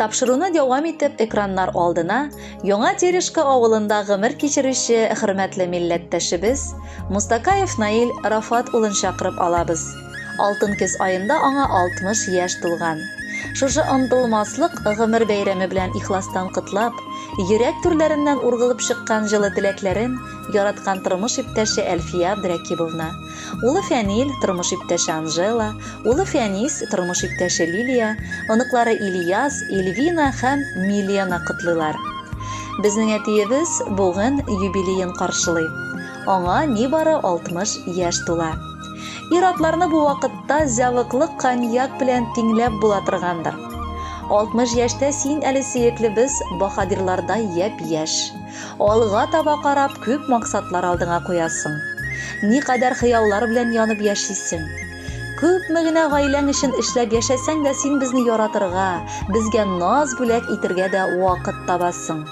Тапшыруны дәвам итеп экраннар алдына Яңа Терешка авылында гомер кичерүче хөрмәтле милләттәшебез Мустакаев Наил Рафат улын чакырып алабыз. Алтын көз аенда аңа 60 яшь тулган. Шушы онтылмаслык гомер бәйрәме белән ихластан котлап, йөрәк түрләреннән ургылып чыккан җылы теләкләрен Яраткан тормыш иптәше Әлфия Абдрәкибовна. Улы Фәнил, тормыш иптәше Анжела, улы Фәнис, тормыш иптәше Лилия, оныклары Ильяс, Ильвина һәм Милена котлыйлар. Безнең әтиебез бүген юбилеен каршылый. Аңа нибары 60 яшь тула. Ир-атларны бу вакытта зәвыклы коньяк белән тиңләп була торгандыр. 60 яшьтә син әле сөеклебез баһадирлардай япь-яшь. Алга таба карап күп максатлар алдыңа куясың. Никадәр хыяллар белән янып яшисең. Күпме генә гаиләң өчен эшләп яшәсәң дә син безне яратырга, безгә наз бүләк итергә дә вакыт табасың.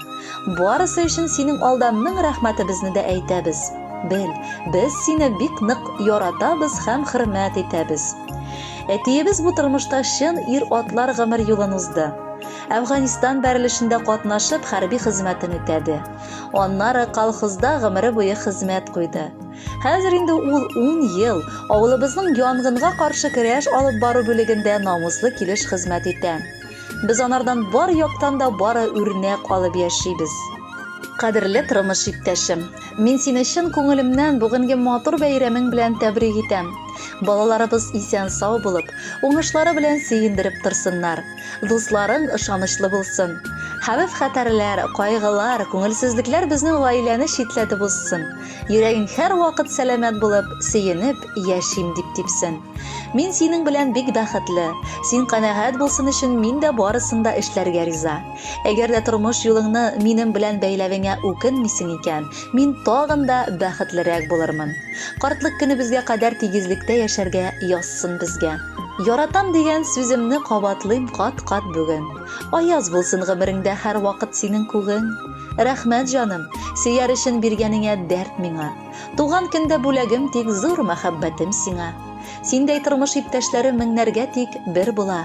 Барысы өчен синең алда мең рәхмәтебезне дә әйтәбез. Бел, без сине бик нык яратабыз һәм хөрмәт итәбез. Әтиебез бу тормышта чын ир-атлар гомер юлын узды. Әфганистан бәрелешендә катнашып хәрби хезмәтен үтәде. Аннары колхозда гомере буе хезмәт куйды. Хәзер инде ул 10 ел авылыбызның янгынга каршы көрәш алып бару бүлегендә намуслы килеш хезмәт итә. Без анардан бар яктан да бары үрнәк алып яшибез. Кадерле тормыш иптәшем, мин сине чын күңелемнән бүгенге матур бәйрәмең белән тәбрик итәм. Балаларыбыз исән-сау булып, уңышлары белән сөендереп торсыннар. Дусларың ышанычлы булсын. Хәвеф-хәтәрләр, кайгылар, күңелсезлекләр безнең гаиләне читләтеп узсын. Йөрәгең һәрвакыт сәламәт булып, сөенеп яшим дип типсен. Мин синең белән бик бәхетле. Син канәгать булсын өчен мин дә барысын да эшләргә риза. Әгәр дә тормыш юлыңны минем белән бәйләвеңә үкенмисең икән, мин тагын да бәхетлерәк булырмын. Картлык көнебезгә кадәр тигезлектә яшәргә язсын безгә. Яратам дигән сүземне кабатлыйм кат-кат бүген. Аяз булсын гомереңдә һәрвакыт синең күгең. Рәхмәт, җаным, сөяр өчен биргәнеңә дәрт миңа. Туган көндә бүләгем тик зур мәхәббәтем сиңа. Синдәй тормыш иптәшләре меңнәргә тик бер була.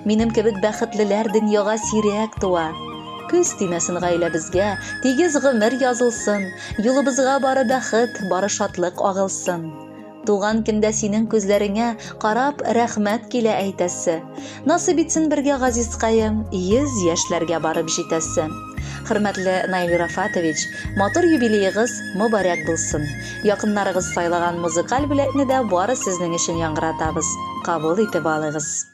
Минем кебек бәхетлеләр дөньяга сирәк туа. Көз тимәсен гаиләбезгә, тигез гомер язылсын, юлыбызга бары бәхет, бары шатлык агылсын. Туган көндә синең күзләреңә карап рәхмәт килә әйтәсе. Насыйп итсен бергә газизкаем, йөз яшьләргә барып җитәсе. Хөрмәтле Наил Рафатович, матур юбилеегыз мобарәк булсын. Якыннарыгыз сайлаган музыкаль бүләкне дә бары сезнең өчен яңгыратабыз. Кабул итеп алыгыз.